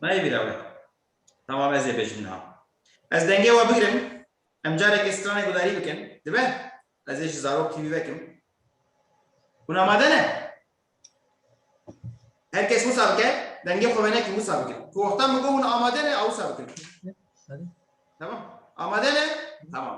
Nayê bîra wê. Tamam ez ê bêjim niha. Ez dengê we bigirim. Em carekê stranê gudarî bikin. Dibe? Ez ê ji zarok TV vekim. Hûn amade ne? Her kes wisa bike, dengê xwe venekî wisa bikin. Ku wexta min got hûn amade ne, a wisa bikin. Tamam. Amade ne? Tamam.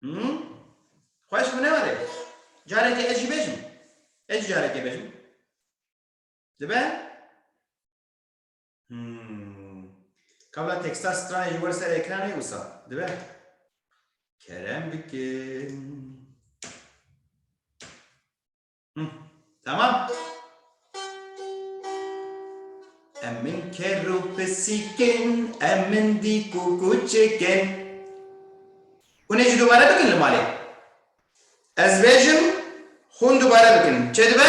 Hmm? Xweş bû newere. Carekê ez jî bejim. Ez jî carekê bejim. Dibe? Hmm. Kabla teksta stranê ji wer ser ekranê wisa. Dibe? Kerem bikin. Tamam. Em min ker û pisîkin, em min dîk û kûçikin. Hûn ê jî dubare bikin li malê. Ez bêjim, hûn dubare bikin. Çêdibe?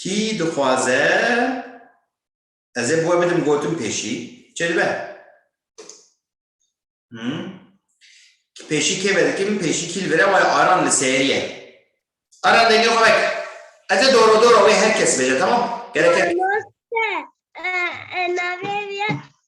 Kî dixwaze ez ê bi we bidim gotin pêşî çê dibe? Hmm. Pêşî kê vedikim pêşî kî li vire waya aran li sêriye. Aran dengê xwe vek. Ez ê doro doro wê her kes bêje tamam. Gerek e. Navê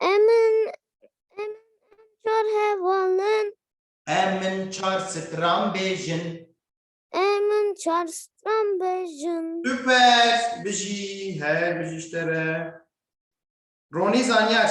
Em in em çar heval in. Em in çar stran bêjin. Em in çar stran bêjin. Süper. Bijî. Her bijî ji te re. Ronî Zanyar.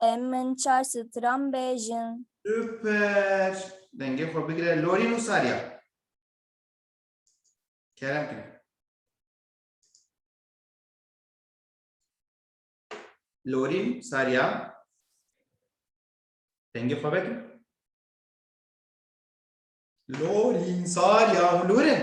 Em min çar stran bêjin. Super! Dengê xwe bigire Lorîn û Sarya. Kerem kir. Lorîn, Sarya. Dengê xwe vekin. Lorîn, Sarya û Lorîn.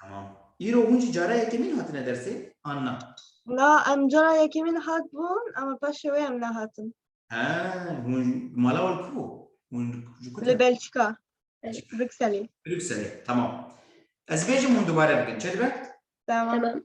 Tamam. Îro hûn jî cara yekemîn hatine dersê an na? Na em cara yekemîn hatbûn ama paşê wê em nehatin. He, hûn mala wan ku hûn ji ku Li te? Belçika. Brükselê. Brükselê. Tamam. Ez bêjim hûn dubare bikin. Çê dibe? Tamam. Tamam.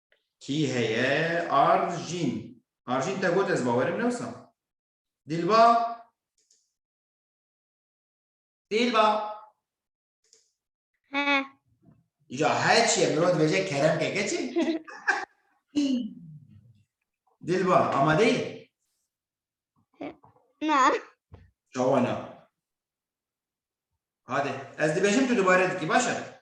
Kî heye? Arjîn. Arjîn te got ez bawerim ne wisa. Dîlba. Dîlba. He. Ja he çiye mirod veje kerem ke keçi. Dilba amade yi? Na. Çawa na. Hadi ez dibêjim tu dubare dikî baş e.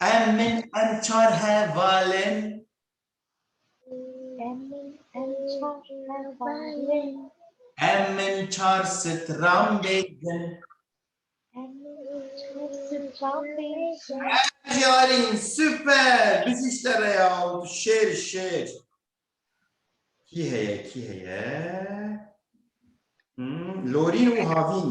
Em min em çar hevalên. Em min çar stran bêjin. Yarîn super biziş te re ya û tu şêr şêr. Kî heye kî heye? Hmm, Lorîn û Havîn.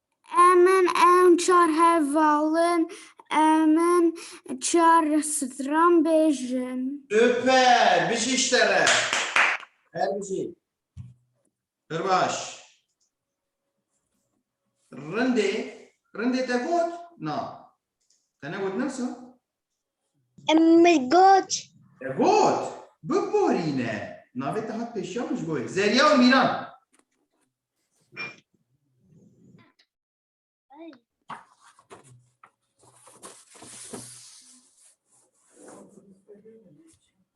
Emin em çar heval in, emin çar stran bêjin. Süper, bijî ji te re. Her bijî. Pir baş. Rindê, rindê te got? Na. Te negot nefsa? Em min got. Te got? Biborîne. Navê te hat pêşiya min ji bo wê. Zerya û Mîran.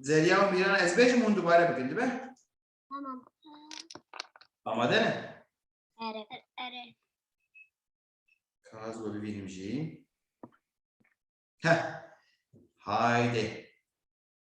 Zerya û Mîran ez bêjim hûn dubare bikin dibe? Tamam. Amade ne? Ere. Ere. Kaz we bibînim jî. Heh. Haydi.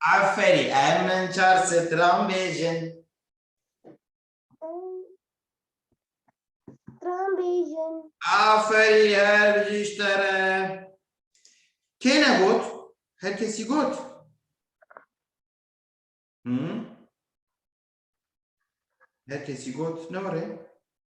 Aferî em min çar stran bêjin. Stran bêjin. Aferî her jî ji te re. Kê ne got? Her kesî got. Hı? Her kesî got ne were?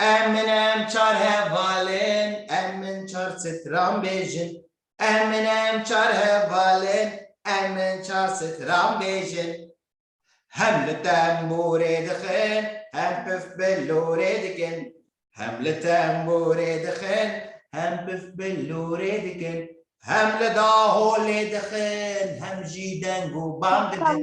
Em min em çar heval in, em min çar stran bêjin. Em min em çar heval in, em min çar stran bêjin. Hem li tembûrê dixin, hem pif bi lûrê dikin. Hem li tembûrê dixin, hem pif bi lûrê dikin. Hem li daholê dixin, hem jî deng û bang didin.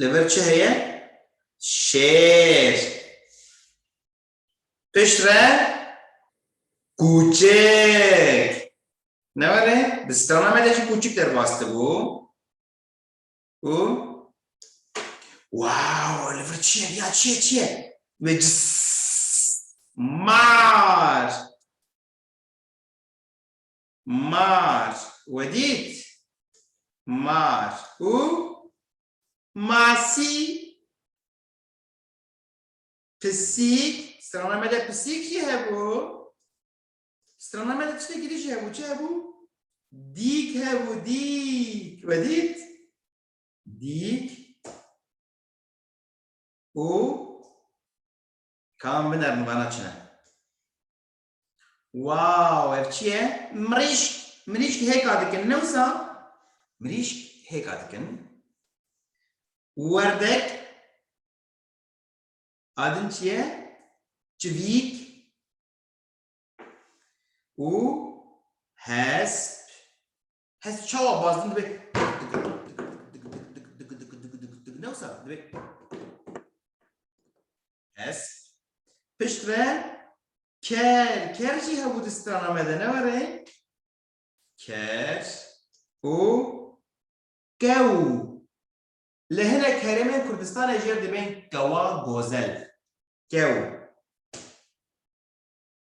Li vir çi heye? Şêr. Pişt re kûçik. Ne were? Di strana me de jî kûçik derbas dibû. Û Wow, li vir çi ye? Ya çi ye çi ye? Ve cıs. Mar. Mar we dît? Mar û masî pisîk strana me de pisîk jî hebû. Strana me de tiştekî din jî hebû. Çi hebû? Dîk hebû dîk. We dît? Dîk û kam binerin vana çi ne? Wow, ev çi ye? Mirîşk, mirîşk hêka dikin, ne wisa? Mirîşk hêka dikin. Werdek, adin çi ye? Çivîk û hesp. Hes çawa bazdin dibê newsa dibê hes pişt ve ker ker jî hebû di strana me de ne were ker û kew li hinek herêmên Kurdistanê jê dibên kewa gozel kew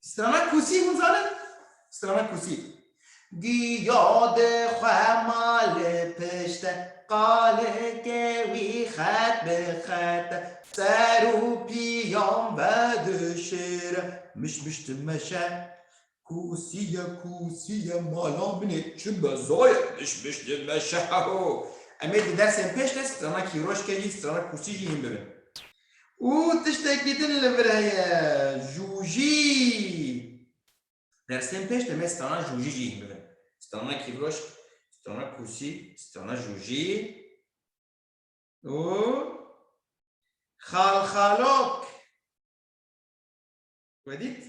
Strana Kusî hûn zanin? Strana Kusî. Giya di xwe ma li pişt e, qalikê wî xet bi xet e, ser û pîyan vedişir e, miş miş dimeşe. Kusîye, kusîye, mala min ê çi be zaye, miş miş dimeşe, heho. Em ê di dersên pêş de strana kîroşkê jî, strana kusî jî hîn bibin. Û tiştekî din li vir heye, jûjî. Dersên pêş demê strana jûjî jî hîn bibin. Strana kîvroşk, strana kursî, strana jûjî û xalxalok. Wedît,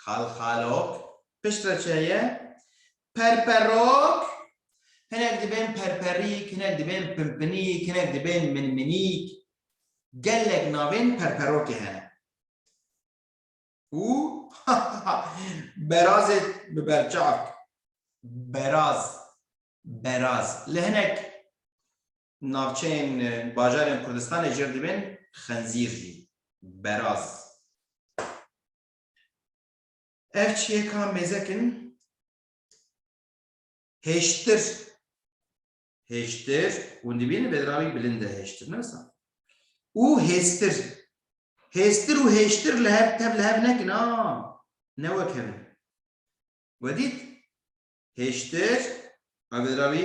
xalxalok, piştre çi heye? Perperok, hinek dibên perperîk, hinek dibên pinpinîk, hinek dibên minminîk. Gelek navên perperokê hene. Û berazê bi berçavk. Beraz, beraz. Li hinek Navçeyên bajarên Kurdistanê jêr dibên xenzîr jî. Beraz. Ev çiyêka mêzek in hêştir hêştir hûn dibînin bêdravî bilind e hêştir ne wisa û hêstir hêstir û hêştir li hev tev li hev nekin a ne wek hev in wedît hêştir ev bêdravî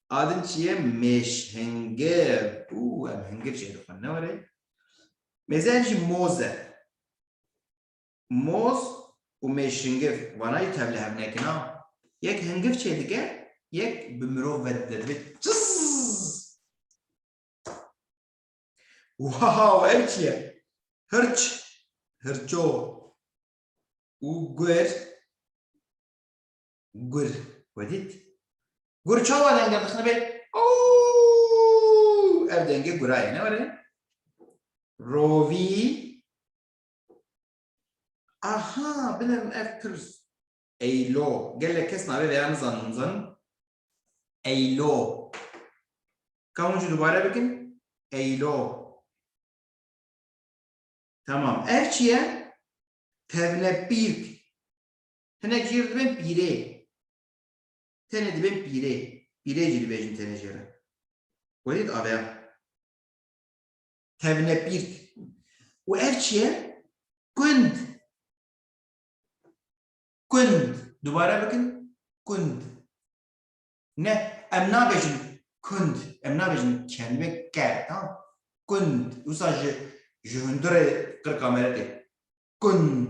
A din çi ye? Mêşhingir. Û em hingir jê dixwin ne were. Mêzeyan jî moz e. Moz û mêşhingir wana jî tevli hev nekin a. Yek hingir çê dike, yek bi mirov ve dide dibe çizz. Wow ev çi ye? Hirç, hirço. Û gur Gur wedît. Gur çawa denge dixnibe? Ow! Ev dengê gura ye ne were? Rovî Aha, bilim ev pir eylo. Gelek kes navê veya nizanin hûn zanin. Eylo. Ka hûn jî dubare bikin? Eylo. Tamam. Ev çi ye? Tevnepîrk. Hinek jê re dibên pîrê. Tenê dibên pîrê. Pîrê jî dibêjin tenê jê re. Welî di aveya tevnepîrt û ev çi ye? Kund. Kund. Dubare bikin. Kund. Ne, em nabêjin kund. Em nabêjin kelime ker. Tamam. Kund. Wisa ji ji hundirê qirka me re tê. Kund.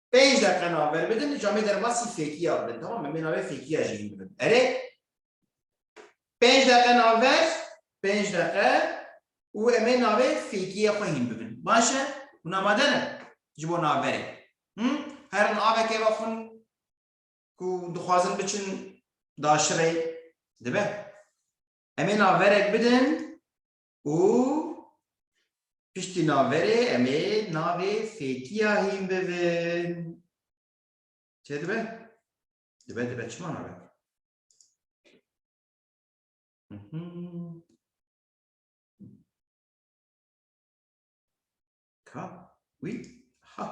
Pênc deqe navber bidin ji amê derbasî fêkiya bidin temam em ê navê fêkiya jî hîn bidin. Erê pênc deqe navber pênc deqe û em ê navê fêkiya xwe hîn bibin. Baş e? Hûn amade ne ji bo navberê? Him? Her in avekê ve xwin ku dixwazin biçin daşirê dibe. Em ê navberek bidin û piştî naverê em ê navê fêkiya hîn bivin. Çê dibe? Dibe dibe çima nabe? Ka, wî, ha.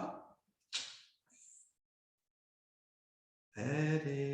Erê,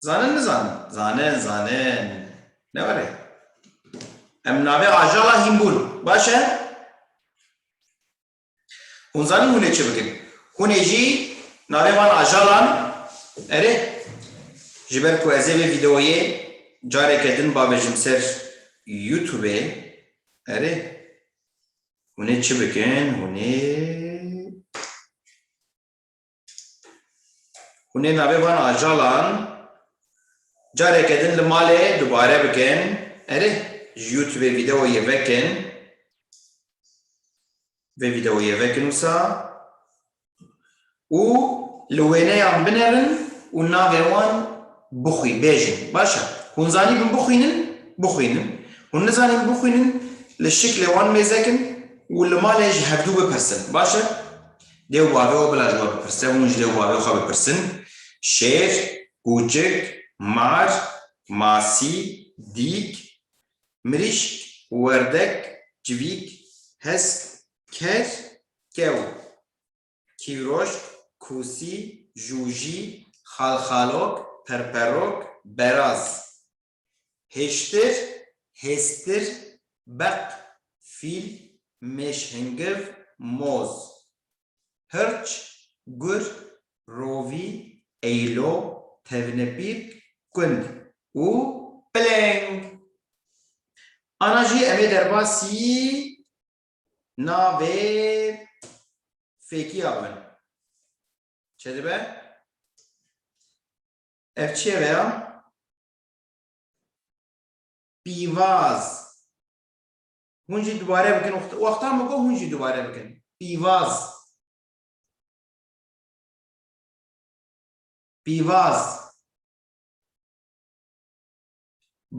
Zanin nizanin. Zanin, zanin. Ne were. Em navê ajala hînbûn. Baş e? Hûn zanin hûn ê çi bikin. Hûn ê jî navê van ajalan erê ji ber ku ez ê vê vîdeoyê careke din babêjim ser YouTubeê erê hûn ê çi bikin hûn ê Hûn ê navê van ajalan careke din li malê dubare bikin. Erê, ji YouTubeê vîdeoyê vekin. Vê vîdeoyê vekin wisa û li wêneyan binerin û navê wan bixwî bêjin. Baş e. Hûn zanîbin bixwînin, bixwînin. Hûn nizanîn bixwînin, li şiklê wan mêzekin û li malê ji hevdû bipirsin. Baş e? Lê ew bavê xwe bila ji we bipirse, hûn ji lê ew bavê xwe bipirsin, Şêr, kûçik, mar, masî, dîk, mirîşk, werdek, civîk, hesk, ker, kew, kîroşk, kûsî, jûjî, xalxalok, perperok, beraz, Hêştir, hêstir, beq, fîl, mêş hingiv, moz, hirç, gur, rovî, eylo, tevnepîrk, kund û pileng. Ana jî em ê derbasî navê fêkiya bibin. Çi dibe? Ev çêreya pîvaz. Hûn jî dubare bikin. Wexta min got hûn jî dubare bikin. Pîvaz. Pîvaz.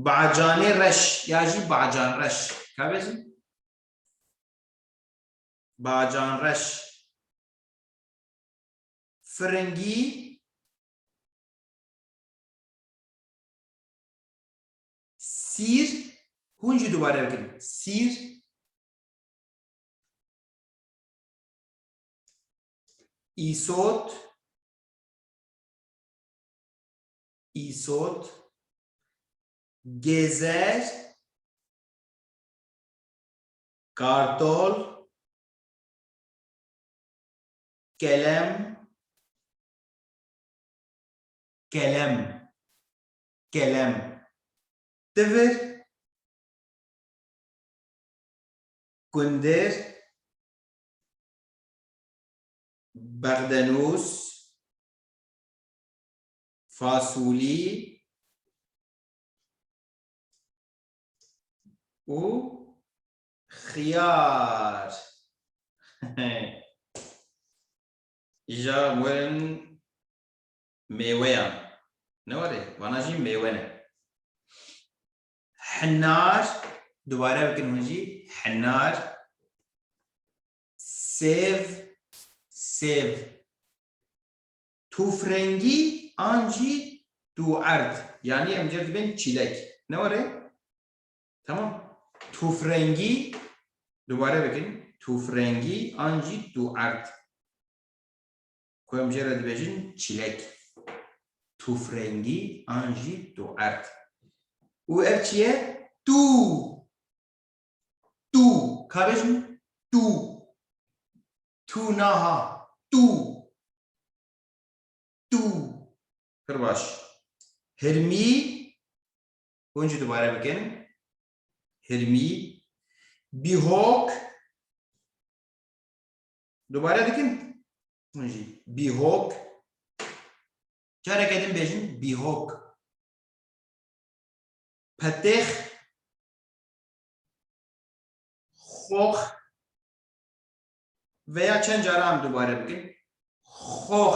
Bacanê reş ya jî bacan reş. Ka bêjin? Bacan reş. Firingî Sîr, hûn jî dubare bikin. Sîr. Îsot. Îsot. Gezer. Kartol. Kelem. Kelem, kelem, tivir, kundir, bexdenûs, fasulî û xiyar. Îja werin mêweyan. Ne warê, vana jî mêwe ne. Hinar, dubare bikin hûn jî, hinar. Sêv, sêv. Tûfrengî an jî tûerd. Yanî em cêr dibên çîlek. Ne warê? Tamam. Tufrengî dubare bikin. Tufrengî an jî tu erd. Ku em jê re dibêjin çîlek. Tufrengî an jî tu erd. Û ev çi ye? Tu. Tu. Ka bêjin? Tu. Tu naha. Tu. Tu. Pir baş. Hirmî Hûn jî dubare bikin. Hilmî, bîhok. Dubare dikin. Hûn jî bîhok. Careke din bêjin bîhok. Petêx. Xox. Veya çend caran dubare bikin. Xox.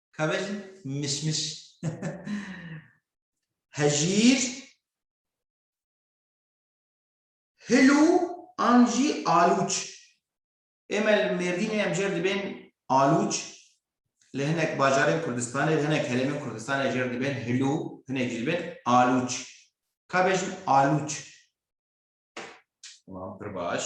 Kabejin mişmiş. Hejîr hilû an jî alûç. Ême li Mêrdînê em jêr dibên alûç li hinek bajarên Kurdistanê li hinek herêmên Kurdistanê jêr dibên hilû hinek jî dibên alûç. Kabejin alûç. Tamam pir baş.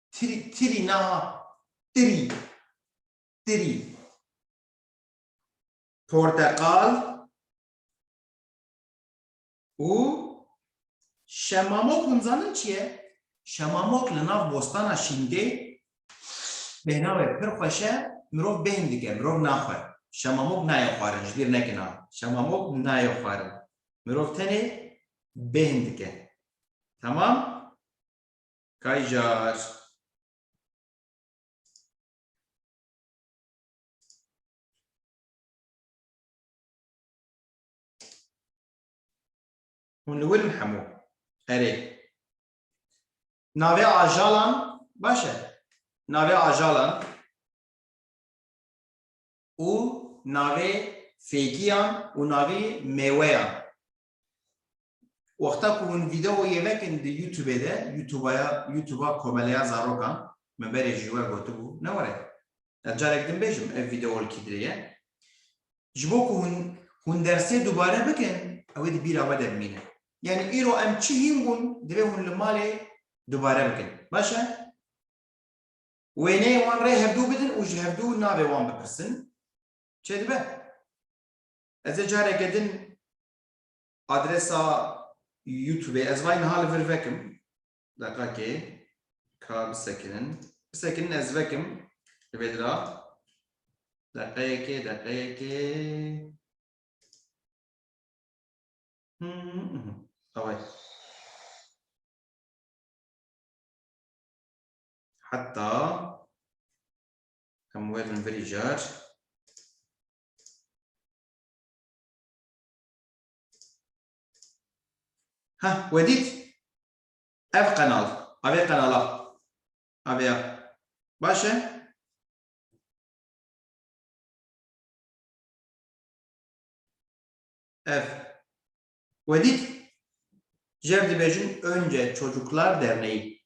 Tirî, tirî na, tirî, tirî. Porteqal û şemamok hûn zanin çi ye? Şemamok li nav bostana Şîngê pênavê pir xweş e, mirov bêhn dike, mirov naxwe. Şemamok nayê xwarin, ji bîr nekin a. Şemamok nayê xwarin. Mirov tenê bêhn dike. Temam? Kayjar. Hûn li wir in hemû. Erê. Navê ajalan baş e. Navê ajalan û navê fêkiyan û navê mêweyan. Wexta ku hûn vîdeoyê vekin di Youtubê de, Youtubaya, Youtuba Komeleya Zarokan, min berê ji we gotibû, ne were. Ez carek din bêjim ev vîdeo li kî dirê ye. Ji bo ku hûn hûn dersê dubare bikin, ew ê di bîra we de bimîne. Yanî îro em çi hîn bûn, divê hûn li malê dubare bikin. Baş e? Wêneyê wan rê hevdu bidin û ji hevdu navê wan bipirsin. Çêdibe? Ez ê careke din adresa YouTubeê ez vay niha li vir vekim. Deqakê ka bisekinin. Bisekinin ez vekim li vê dira. Deqeyekê, deqeyekê. Away. Hatta em werin virî car. Ha, wedît ev qenal, avê qenala, avêya. Baş e? Ev. Wedît jer dibêjin Önce Çocuklar Derneği.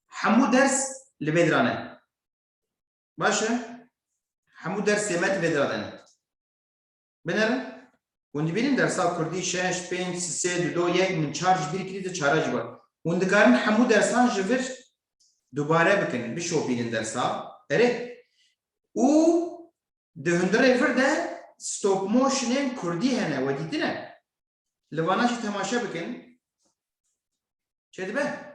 Hemû ders li bê diran e. Baş e? Hemû dersê me divê dadin. Binerin? Hûn dibînin dersa Kurdî şeş, pênc, sê, du, do, yek, min çar ji bîr kirî di çara ji bar. Hûn dikarin hemû dersan ji vir dubare bikin, bişopînin dersa. Erê? Û di hundirê vir de stop motionên Kurdî hene, we dîtine? Li vana jî temaşe bikin. Çêdibe?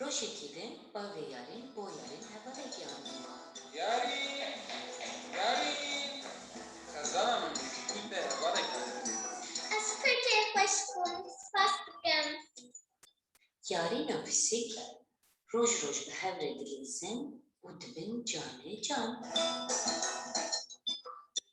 Rojekî din bavê Yarîn bo Yarîn hevalekî anî wan. Yarîn! Yarîn! Xezana min bi jîkî te hevalekî anî wan. Ez kurtê xweş bûm, spas dikim. Yarîn û Pisîk roj roj bi hev re dilîzin û dibin canê can.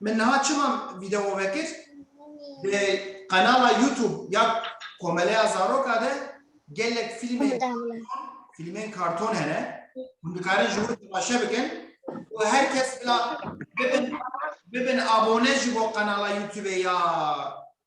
Min niha çima video vekir? Di qenala YouTube ya Komeleya Zaroka de gelek filmên filmên karton hene. Hûn dikarin ji wir temaşe bikin û her kes bila bibin bibin abone ji bo qenala YouTubeê ya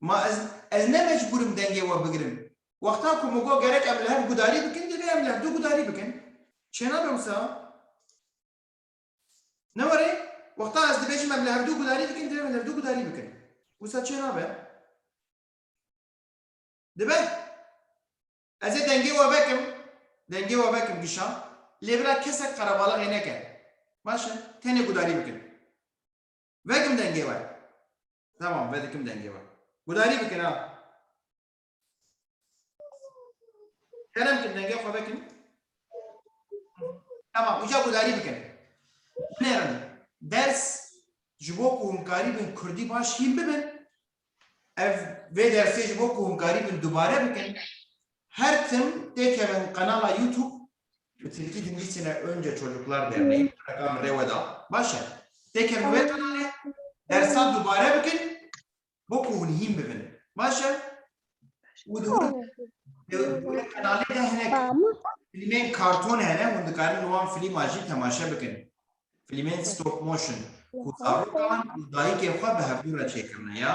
Ma ez ez ne mecbûr im dengê we bigirim. Wexta ku min got gerek em li hev gudarî bikin divê em li hevdu gudarî bikin. Çênabe wisa? Ne were? Wexta ez dibêjim em li hevdu gudarî dikin divê em li hevdu gudarî bikin. Wisa çênabe? Dibe? Ez ê dengê we vekim, dengê we vekim kişan, lê bira kesek qerebalaxê neke. Baş e, tenê gudarî bikin. Vekim dengê we. Tamam vedikim dengê we. Gudarî bikin ha. Kerem kim dengê xwe vekin. Tamam uca gudarî bikin. Binêrin ders ji bo ku hûn karî bin Kurdî baş hîn bibin. Ev vê dersê ji bo ku hûn karî bin dubare bikin. Her tim tê kevin qenala YouTube bi Tirkî dinivîsîne Önce Çocuklar Derneği û reka min rê we da. Baş e. Tê kevin wê qenalê, dersa dubare bikin bo ku hûn hîn bibin. Baş e? Û di wir di wir qenalê de hinek filmên karton hene, hûn dikarin li wan filîma jî temaşe bikin. Filmên stop motion ku zarokan û dayikên xwe bi hevdû re çêkirine ya.